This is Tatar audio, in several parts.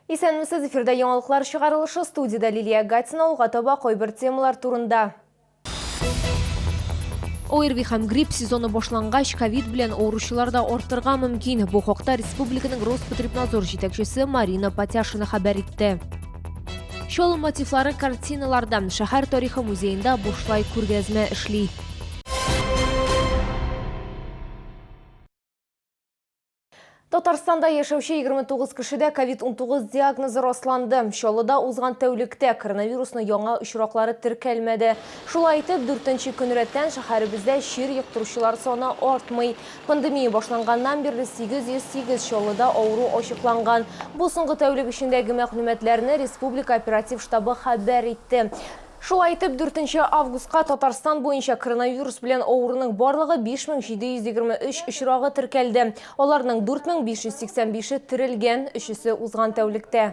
Исәнмесез, эфирда яңалыклар чыгарылышы студияда Лилия Гатина алга таба кайбер темалар турында. ОРВИ һәм грипп сезоны башлангач, ковид белән авыручылар да артырга мөмкин. Бу хакта республиканың Роспотребнадзор җитәкчесе Марина Патяшина хәбәр итте. Чолым мотивлары картиналардан шәһәр тарихы музеенда бушлай күргәзмә эшли. Татарстанда яшәүче 29 кешедә COVID-19 диагнозы расланды. Чаллыда узган тәүлектә коронавирусны яңа очраклары теркәлмәде. Шулай итеп, дүртенче көн рәттән шәһәребездә чир йоктыручылар саны артмый. Пандемия башланганнан бирле 808 Чаллыда авыру ачыкланган. Бу соңгы тәүлек эчендәге мәгълүматларны республика оператив штабы хәбәр итте. Шулай итеп, дүртенче августка Татарстан буенча коронавирус белән авыруның барлыгы 5723 очрагы теркәлде. Аларның 4585-е терелгән, өчесе узган тәүлектә.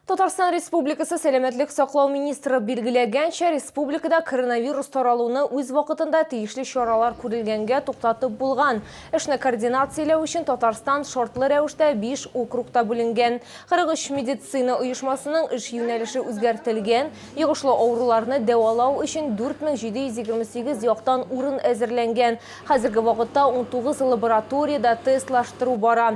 Татарстан Республикасы сәламәтлек саклау министры билгеләгәнчә, республикада коронавирус таралуны үз вакытында тиешле чаралар күрелгәнгә туктатып булган. Эшне координацияләү өчен Татарстан шартлы рәвештә 5 округта бүленгән. 43 медицина оешмасының эш юнәлеше үзгәртелгән. Йогышлы авыруларны дәвалау өчен 4728 яктан урын әзерләнгән. Хәзерге вакытта 19 лабораториядә тестлаштыру бара.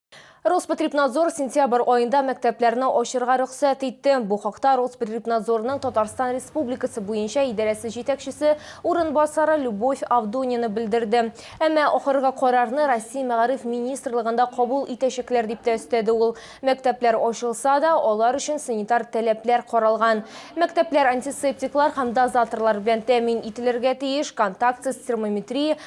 Роспотребнадзор сентябрь аенда мәктәпләрне ачырга рөхсәт итте. Бу хакта Роспотребнадзорның Татарстан Республикасы буенча идарәсе җитәкчесе урынбасары Любовь Авдонина белдерде. Әмма ахыргы карарны Россия мәгариф министрлыгында кабул итәчәкләр, дип тә өстәде ул. Мәктәпләр ачылса да, алар өчен санитар таләпләр каралган. Мәктәпләр антисептиклар һәм дозаторлар белән тәэмин ителергә тиеш, контактсыз термометрия,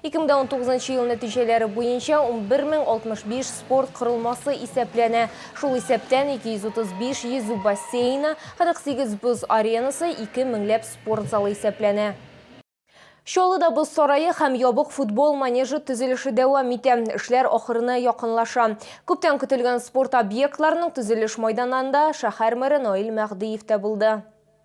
Ике мең дә унтугызынчы ел нәтиҗәләре буенча унбер мең алтмыш биш спорт корылмасы исәпләнә. Шул исәптән, ике йөз утыз биш йөзү бассейны, кырык сигез боз аренасы, ике меңләп спорт залы исәпләнә. Чаллыда боз сарае һәм ябык футбол манежы төзелеше дәвам итә. Эшләр ахырына якынлаша. Күптән көтелгән спорт объектларының төзелеш майданнанда шәһәр мэры Наил Мәһдиев тә булды.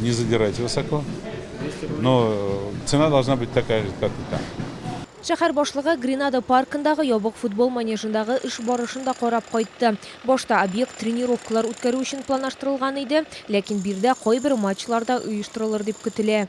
Не задирайте высоко, но цена должна быть такая же, как и там. Шәһәр башлыгы Гренада паркындагы ябык футбол манежындагы эш барышын да карап кайтты. Башта объект тренировкалар үткәрү өчен планаштырылган иде, ләкин биредә кайбер матчлар да оештырылыр дип көтелә.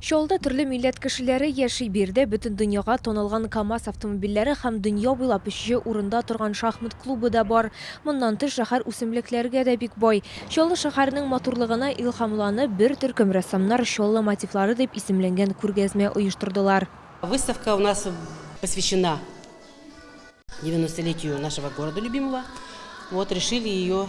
Чаллыда төрле милләт кешеләре яши. Биредә бөтен дөньяга танылган КАМАЗ автомобильләре һәм дөнья буйлап өченче урында торган шахмат клубы да бар. Моннан тыш, шәһәр үсемлекләргә дә бик бай. Чаллы шәһәренең матурлыгына илһамланып, бер төркем рәссамнар Чаллы мотивлары дип исемләнгән күргәзмә оештырдылар. Выставка у нас посвящена девяностолетию нашего города любимого. Вот решили ее.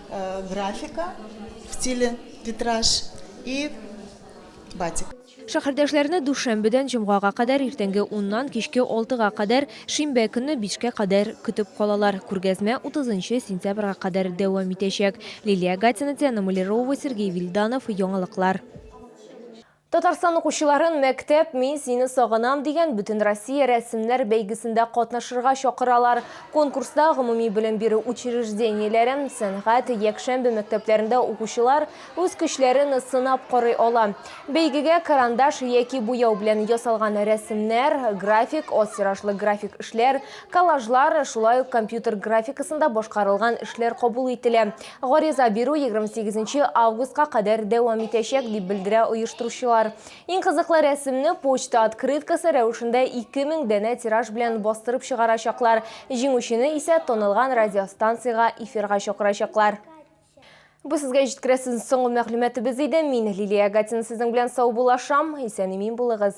Графика в стиле витраж и батик. Шәһәрдәшләрне дүшәмбедән җомгага кадәр иртәнге уннан кичке алтыга кадәр, шимбә көнне бишкә кадәр көтеп калалар. Күргәзмә 30 сентябрьгә кадәр дәвам итәчәк. Лилия Гатина, Диана Малярова, Сергей Вильданов, Яңалыклар. Татарстан укучыларын Мәктәп, мин сине сагынам дигән Бөтенроссия рәсемнәр бәйгесендә катнашырга чакыралар. Конкурста гомуми белем бирү учреждениеләре, сәнгать, якшәмбе мәктәпләрендә укучылар үз көчләрен сынап карый ала. Бәйгегә карандаш яки буяу белән ясалган рәсемнәр, график, аз тиражлы график эшләр, коллажлар, шулай ук компьютер графикасында башкарылган эшләр кабул ителә. Гариза бирү 28 августка кадәр дәвам итәчәк, дип белдерә оештыручылар. Иң кызыклы рәсемне почта открыткасы рәвешендә 2000 данә тираж белән бастырып чыгарачаклар, җиңүчене исә танылган радиостанциягә эфирга чакырачаклар. Бу сезгә җиткерәсез соңгы мәгълүматыбыз иде. Мин Лилия Агатина сезнең белән саубуллашам. Исән-имин булыгыз.